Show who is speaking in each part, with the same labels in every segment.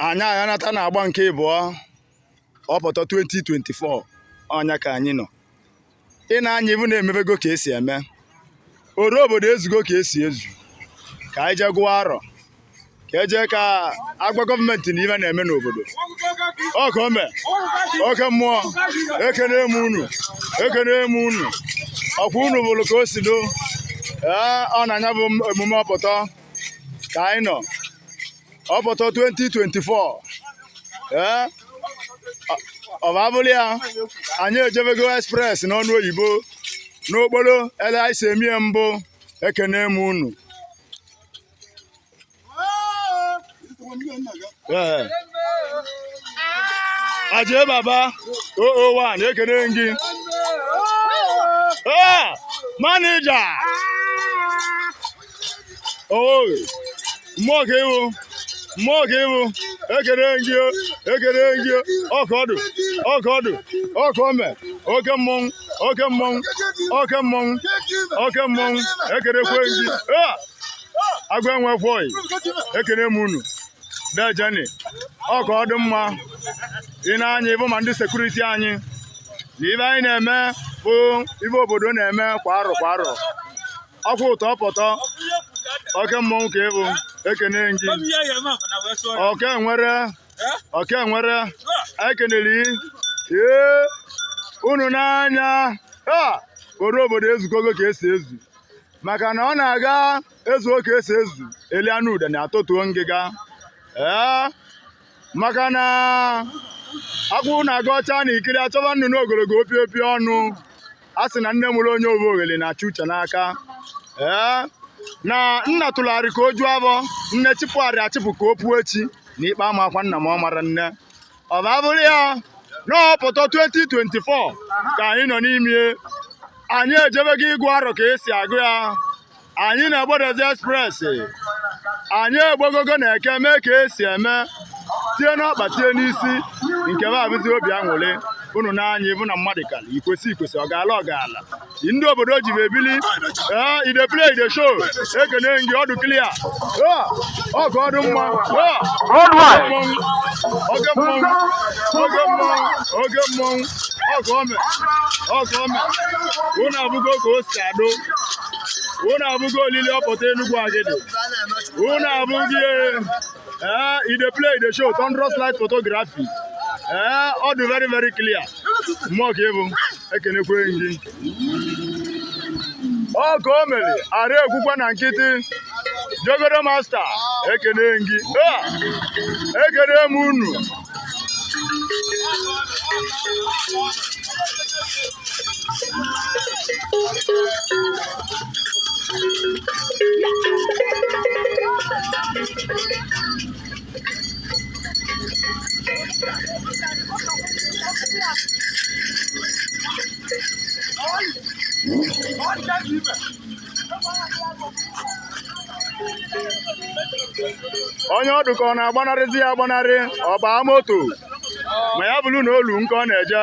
Speaker 1: anyị aghanata na agba nke ịbụọ Opoto 2024 ọnya ka anyị nọ ị na-anya ịvụ na emebego ka esi eme oru obodo ezugo ka esi ezu ka anyị jee gụọ arọ ka ejee ka agwa gọọmenti na ive na-eme n'obodo ọka ome oke mmụọ ekene m unu ekene m unu ọkwa unu vụlụ ka o si do ee ọ na-anya bụ emume Opoto ka anyị nọ Opoto 2024 ee ọ bụ abụrụ ya anyị ejebego express n'ọnụ oyibo n'okporo ele anyị si emie mbụ ekene m unu aje baba 001 ekene gị manija mmụọ ka ị bụ mmụọ ka ị bụ ekene gị ekene gị ọka ọdụ ọka ọdụ ọka ome oke mmọnwụ oke mmọnwụ oke mmọnwụ oke mmọnwụ ekenekwe gị agwa enwekwọị ekene m unu dejeni ọ ka ọ dị mma ị na-anya ịvụ ma ndị sekuriti anyị na ive anyị na-eme bụ ive obodo na-eme kwa arọ kwa arọ ọkwụ ụtọ Opoto oke mmọnwụ ka ị bụ ekene gị oke nwere oke nwere anyị kenere gị ee unu na-anya oru obodo ezukọgo ka esi ezu maka na ọ na-aga ezuo ka esi ezu eli anụ udene atọtuo ngịga ee maka na akwụ na-aga ọcha na ikiri achọba nnụnụ ogologo opi opi ọnụ a sị na nne mụrụ onye ovu oghele na-achụ uche n'aka ee na nna tụlarị ka o juo abọ nne chịpụgharị achịpụ ka o puo echi na ikpe amakwa nna m ọ mara nne ọ bụ abụrụ ya n'Opoto 2024 ka anyị nọ n'ime anyị ejebego ịgụ arọ ka esi agụ ya anyị na-egbodozi express anyị egbogogo na eke mee ka esi eme tie n'ọkpa tie n'isi nke va abụzi obi aṅụrị unu na-anya ịvụ na mmadụ kara ikwesị ikwesị ọ gaala ọ gaala ndị obodo ji ebili ee e dey play e dey show ekene gị ọ dụ clear ọka ọdụ mma oke mmọnwụ oke mmọnwụ oke mmọnwụ ọka ome ọka ome unu avụgo ka o si adụ unu avụgo olili Opoto Enugwu Agidi unu abụghị ee e dey play e dey show thunderous light photography ee ọ dị very very clear mmụọ ka ị bụ ekenekwe m gị ọ ka o mere ara ekwukwa na nkịtị jogoro masta ekene m gị ekene m unu Yeah. onye ọ dụ ka ọ na-agbanarịzi ya agbanarị ọ baa moto ma ya bụrụ na olu nke ọ na-eje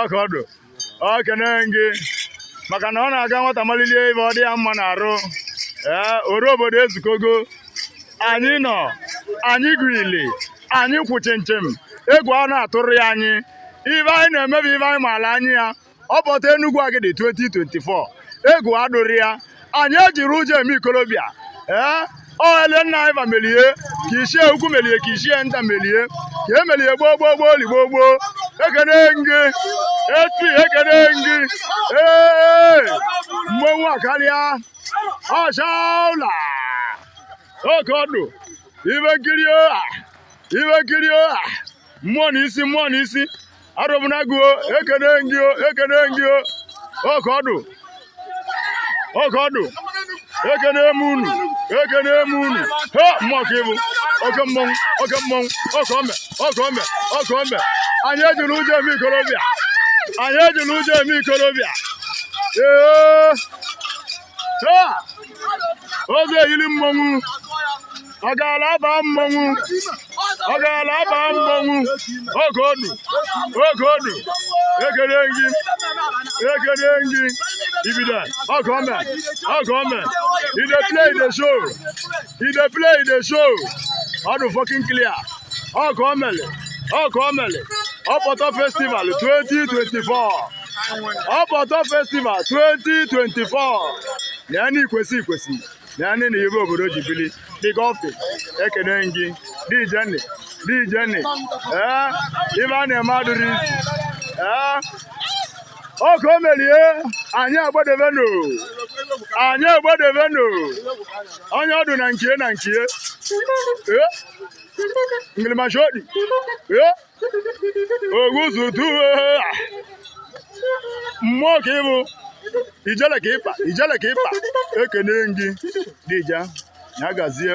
Speaker 1: oke ọdụ ekene m gị maka na ọ na-aga nwata malilie ive ọ dị ya mma na arụ ee ọra obodo ezukọgo anyị nọ anyị gwili anyị kwụ chịm chịm egwu a na-atụrụ ya anyị ive anyị na-eme bụ ive anyị maalụ anya ya Opoto Enugwu Agidi 2024 egwu adụrọ ya anyị ejirọ ụjọ eme ikolobịa ee ọ ele nna anyị va melie ka ichie ukwu melie ka ichie nta melie ka e melie gboo gboo gboo li gboo gboo ekene gị esi ekene gị ee mmọnwụ akalịa ọchaụla oke ọdụ ive nkiri ọha ive nkiri ọha mmụọ na isi mmụọ na isi arụmnagụ ekene gị ekene gị oke ọdụ oke ọdụ ekene m unu ekene m unu ha mmụọ ka ị bụ oke mmọnwụ oke mmọnwụ ọka ome ọka ome ọka ome anyị ejirọ ụjọ eme ikolobịa anyị ejirọ ụjọ eme ikolobịa ee oge eyiri mmọnwụ ọ gaala aba mmọnwụ ọ gaala aba mmọnwụ oge onu oge onu ekele gị ekele gị ibida ọgọ ọmẹ ọgọ ọmẹ e dey play e dey show e dey play e dey show ọdụ fọkin clear ọgọ ọmẹlẹ ọgọ ọmẹlẹ ọpọtọ festival twenty twenty four. Opoto festival 2024 nene ikwesị ikwesị nene ive obodo ji bili dịka ọfị ekene gị dijeni dijeni ee ive a na-eme adịrọ easy ee ọka o merie anyị agbadebenu anyị agbadebenu onye ọdụ na nke ya na nke ya ee ngilimashaodi ee oguzuduwe mmụọ ka ị bụ ijele ka ịkpa ijele ka ịkpa ekene m gị dija ya gazie